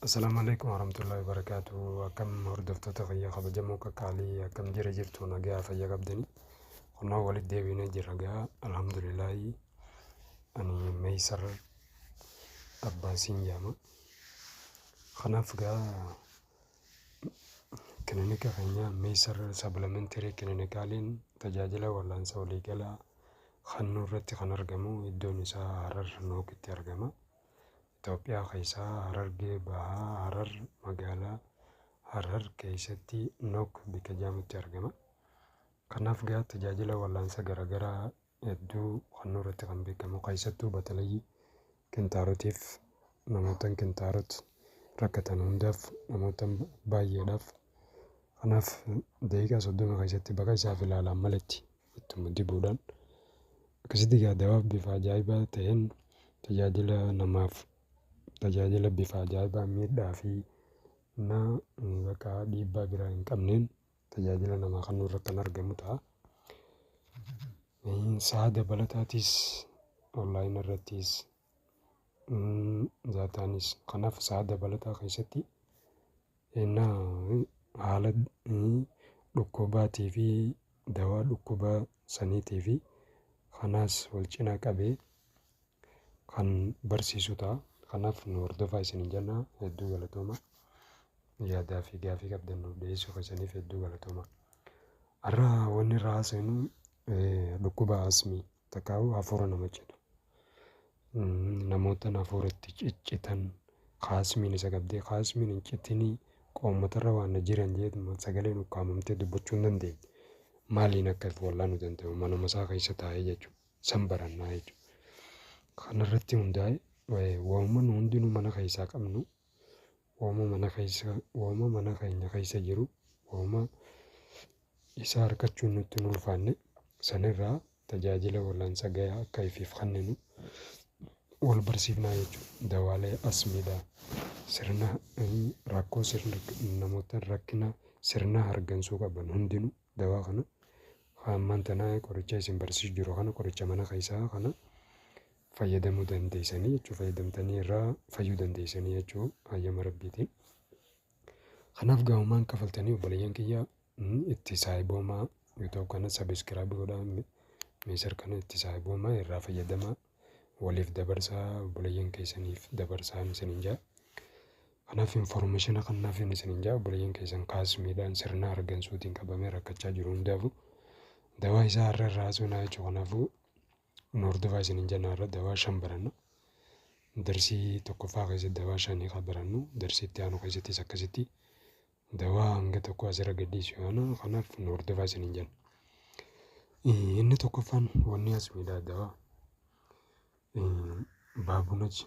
Assalaamu alaikum warahmatullahi wabarakatuh akkam hordoftoota fayyaa kabajamoo qaqqaalii akkam jira jirtu nagaa fayya qabdanii kunoo walitti deebiinee jirra gaa alhamdulillaahi ani meeysar abbaasiin jaama kanaaf gaa kilinika keenya meeysar sabilamentary kilinikaaliin tajaajila wallaansa waliigalaa kennuu irratti kan argamu iddoon isaa harar nookitti argama Itoophiyaa keessaa Harargee Bahaa Harar magaalaa Harar keessatti Nok bikka jedhamutti argama. Kanaaf gaa tajaajila wallaansa garaagaraa hedduu kennuu irratti kan beekamu keessattuu batalayyi kintaarotiif namootan kintaarot rakkatan hundaaf namootan baay'eedhaaf kanaaf daqiiqaa soddoma keessatti baqa isaaf ilaalaan maletti ittuma dibuudhaan akkasitti egaa dawaaf bifa ajaa'ibaa ta'een tajaajila namaaf tajaajila bifa ajaa'ibaa miidhaa fi na bakka dhiibbaa biraa hin qabneen tajaajila namaa kennuu irratti kan argamu ta'a. Sa'a dabalataatis online irrattis Daataanis kanaaf sa'a dabalataa keessatti ennaa haala dhukkubaatiifi dawaa dhukkuba saniitiifi kanaas wal cina qabee kan barsiisu ta'a. Kanaaf nu hordofaa isiniin jenna. Hedduu galatoomaa. Yaadaa fi gaaffii qabdan nuuf dhiyeessuu keessaniif hedduu galatoomaa. Har'a wanni irraa haasofnu dhukkuba asmii. Takaahuu hafuura nama citu. Namoota hafuura itti ciccitan kaasmiin isa qabdee kaasmiin hin citinii qoommatarra waan na jiran jeetuma sagaleen ukkaamamtee dubbachuu hin dandeenye. Maaliin akka itti wallaanu danda'u manuma isaa keessa taa'ee jechuudha. San barannaa jechuudha. Kanarratti hundaa'e waamuma nu hundinuu mana keessaa qabnu waamuma mana keessa waamuma mana keenya keessa jiru waamuma Isa arkachuun nutti hin ulfaanne sanirraa tajaajila wal'aansa gayaa akka ifiif kanninu wal barsiifnaa jechuudha. Dawaalee asmiidhaa sirna rakkoo sirna namoota rakkina sirna hargansuu qaban hundinuu dawaa kana hammaan tanaa qoricha isin barsiisu jiru kana qoricha mana keessaa kana fayyadamuu dandeessanii jechuudha. Fayyadamtanii irraa fayyuu dandeessanii jechuudha hayyama rabbiitiin. Kanaaf gaamumaan kafaltanii obboleeyyan kiyya itti saahiboomaa youtube kana sabiskiraayib godhaa meesar kana itti saahiboomaa irraa fayyadamaa waliif dabarsaa obboleeyyan keessaniif dabarsaa isiniin jaa. Kanaaf informeeshina kannaaf hin isiniin jaa obboleeyyan keessan kaasmiidhaan sirna argansuutiin qabamee rakkachaa jiru hundaafu dawaa isaa irra irraa haasofnaa jechuudha kanaafuu Kun hordofaa isinin jenna irra dawaa shan baranna. Darsii tokkoffaa keessatti dawaa shanii kan barannu darsii itti aanu keessattis akkasitti dawaa hanga tokko asirra gadhiisu yaana kanaaf nu hordofaa isinin jenna. Inni tokkoffaan wanni as miidhaa dawaa baabunachi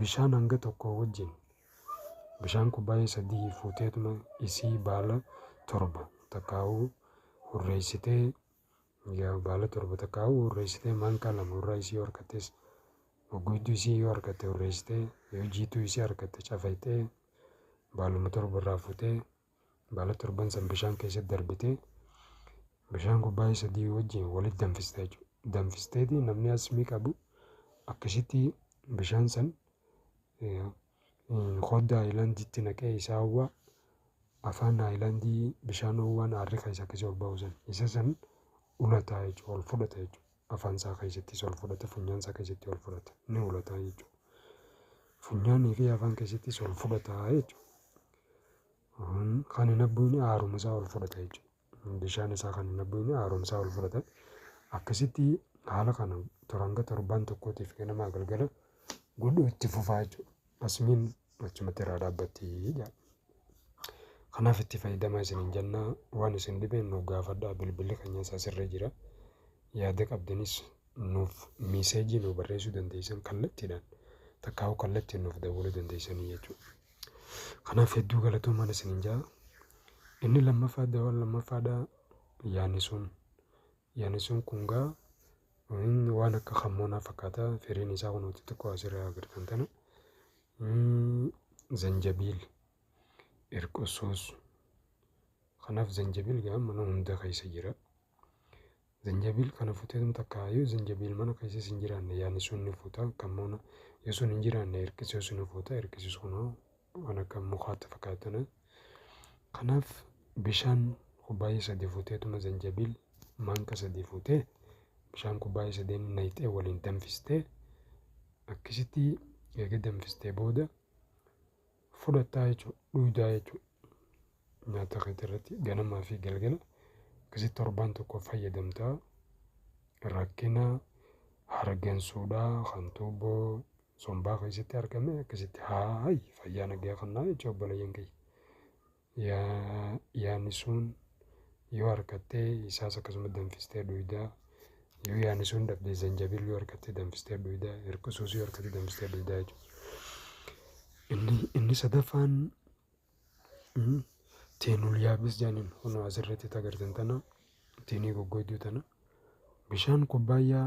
Bishaan hanga tokkoo wajjin bishaan kubbaayee sadihii fuuteetuma isii baala torba takkaahuu hurreeysitee yaa baala torba takkaahuu hurreeysitee maankaa lama hurraa isii yoo harkattees goggoyduu isii yoo harkatte hurreeysitee yoo jiituu isii harkatte cafayxee baaluma torba irraa fuutee baala torban san bishaan keessatti darbitee bishaan kubbaayee sadii wajjin walitti danfista jechuudha. Danfisteeti namni asmii qabu akkasitti bishaan san hodda haayilaandiitti naqee isaa hawwaa afaan haayilaandii bishaan hawwaan aarri keessa akkasii ol ba'u san isa san ulataa jechuudha ol fudhata jechuudha. afaan isaa keessattis ol fudhata, funyaan isaa keessatti ol fudhata, ni hoolata jechuudha. Funyaanii fi afaan keessattis ol fudhata jechuudha. Kan hin abbuun haaruma isaa ol fudhata jechuudha. Bishaan isaa kan hin abbuun haaruma isaa ol fudhata. Akkasitti haala kana toranga torbaan tokkootiif ganama galgala godhuu itti fufaa jechuudha. Asmiin achumatti irraa dhaabbatti jedha. Kanaaf itti fayyadamaa isiniin jenna. Waan isin dhibe nuuf gaafadhaa. Bilbilli keenya isaa sirra jira. Yaada qabdanis nuuf miiseejii nuuf barreessuu dandeessan kallattiidhaan takkaa'uu kallattiin nuuf dawwaluu dandeessanii jechuudha. Kanaaf hedduu galatoomaan isiniin jaa. Inni lammaffaa dawaan lammaffaadhaa yaani sun Yanisuun kun gaa waan akka kammoonaa fakkaata firiin isaa kun nuti xiqqoo asirraa agartan tana. Zanjabiil irqusuus kanaaf zanjabiil gaa mana hunda keessa jira. Zanjabiil kana futee nu takka yoo zanjabiil mana keessa hin jiraanne yaanisuun ni fuuta kammoona yoo sun hin jiraanne irqisuus ni fuuta irqisuus kunoo waan akka mukaatti fakkaatana. Kanaaf bishaan kubbaayee sadii fuuteetuma zanjabiil maanka sadii fuutee bishaan kubbaayee sadeen nayxee waliin danfistee akkasitti eega danfistee booda fudhattaa jechuudha dhuydaa jechuudha. Nyaata keetii irratti ganamaa fi galgala akkasitti torbaan tokko fayyadamtaa rakkina hargansuudhaa kan tuubboo sombaa keessatti argame akkasitti haay fayyaa nagaya kannaa jecha obboleeyyan kiyya. Yaani sun yoo harkattee isaas akkasuma danfistee dhuydaa yoo yaani sun dhabdee zanjabil yoo harkattee danfistee dhuydaa hirqisuus yoo harkattee danfistee dhuydaa jechuudha. Inni, inni sadaffaan teenul yaabis jaaniin kunoo asirratti tagartan tana teenii goggoyduu tana bishaan kubbaayyaa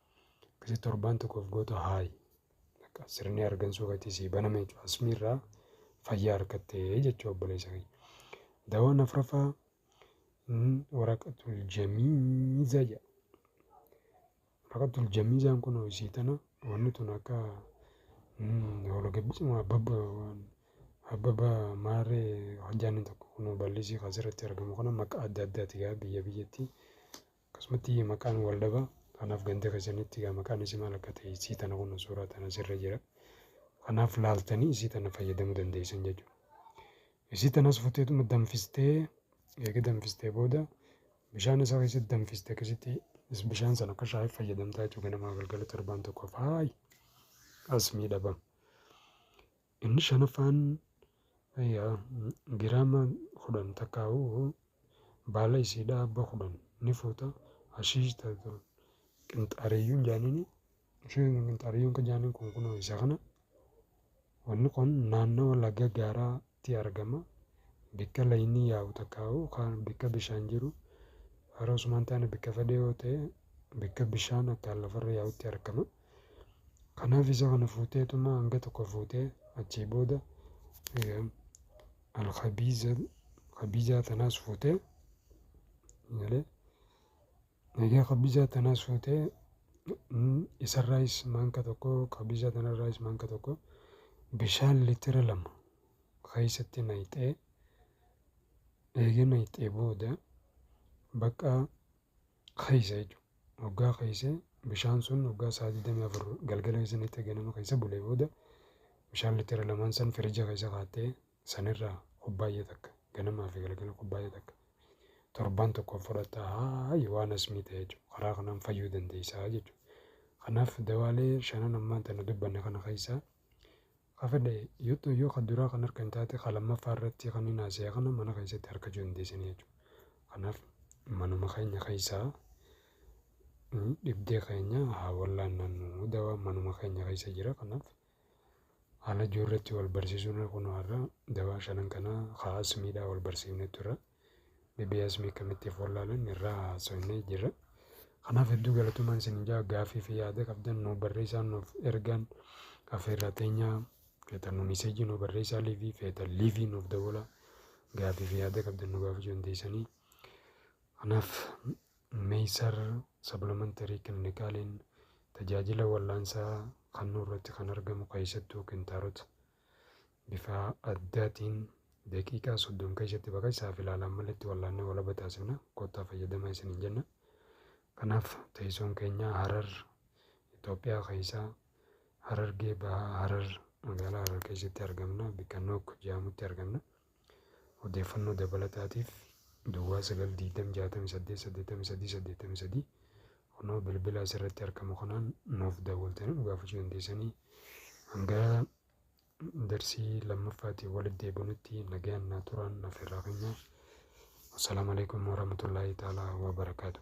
Akkasi torbaan tokkoof goota haayi. Bakka sirni argansuu gatii sii baname jechuudha. Asmii irraa fayyaa harkattee jechuudha obboleessa kiyya. Dawaan afraffaa waraqatul jamiiza jedha. Waraqatul jamiizaan kun isii tana wanni tun akka hologabbisuma abbabba abbabba maarree hojjaanni tokko kun bal'isii kan asirratti argamu kana maqaa adda addaati gaa biyya biyyatti. Akkasumatti maqaan wal dhaba. Kanaaf ganda keessanitti egaa maqaan isii maal akka ta'e isii tana kun suuraa tana sirra jira. Kanaaf laaltanii isii tana fayyadamuu dandeessan jechuudha. Isii tanas futeetuma danfistee eega danfistee booda bishaan isaa keessatti danfiste akkasitti bishaan sana akka shaayiif fayyadamtaa jechuudha ganamaa galgala torbaan tokko faayi as miidhaba. Inni shanaffaan giraama kudhan takkaa'uu baala isiidhaa abba kudhan ni fuuta hashiish tatu qinxaariyyuun jaaniini isheen qinxaariyyuun kan jaaniin kun kunoo isa kana wanni kun naannawa laga gaaraatti argama bikka laynii yaa'u takkaa'uu kaan bikka bishaan jiru haroo sumaan taane bikka fedhee yoo ta'e bikka bishaan akkaan lafarra yaa'utti argama. Kanaaf isa kana fuuteetuma hanga tokko fuutee achii booda alkhabiizaa tanaas fuutee malee egaa khabiizaa tanaas fuutee isarraayis maanka tokko khabiizaa tanarraayis maanka tokko bishaan litira lama keessatti naqxee eega naqxee booda bakka keessa jechuudha. Hoggaa keessa bishaan sun hoggaa sa'a 24 galgala keessa nixxe ganama keessa bulee booda bishaan litira lamaan san firija keessa kaattee sanirraa kubbaayya takka ganamaa fi galgala kubbaayya takka torbaan tokkoof fudhatta haayi waan asmii ta'e jechuudha. Karaa kanaan fayyuu dandeessaa jechuudha. Kanaaf dawaalee shanan ammaan tana dubbanne kana keessaa Ka fedhe yoo ta'u yoo ka duraa kan harka hin taate ka lammaffaa irratti kan hin haasa'e kana mana keessatti harkachuu dandeessanii jechuudha. Kanaaf manuma keenya keessaa dhibdee keenya haa wallaannannu dawaa manuma keenya keessa jira kanaaf haala ijoolleetti wal barsiisuun kun har'a dawaa shanan kanaa haa asmiidhaa wal barsiifnee turre. BBS akkamitti of wallaalan irraa haasofnee jirra. Kanaaf hedduu galatoomaa isin ijaa gaaffii fi yaada qabdan nu barreessaan nuuf ergaan affeerraa teenyaa feetan nu miseejii nu barreessaa liivii feetan liivii nuuf dawwala gaaffii fi yaada qabdan nu gaafachuu dandeessanii. Kanaaf meesar saplimentarii kilnikaaliin tajaajila wallaansaa kannuu irratti kan argamu keessattuu kintaarota. bifaa addaatiin daqiiqaa soddom keessatti bakka isaaf ilaalaan maletti wallaannee walaba taasifna kottaa fayyadamaa isiniin jenna. Kanaaf teessoon keenya Harar Itoophiyaa keessaa Harargee bahaa Harar magaalaa Harar keessatti argamna bikka Nook jedhamutti argamna. Odeeffannoo dabalataatiif Duwwaa 9 20 68 83 83 kunoo bilbila asirratti argamu kanaan nuuf daawwaltanii nu gaafachuu dandeessanii hanga darsii lammaffaatiin walitti deebinutti nagaan naa turaan naaf irraa keenya. Assalaamu alaikum warahmatullaahi ta'aalaa wabarakaatu.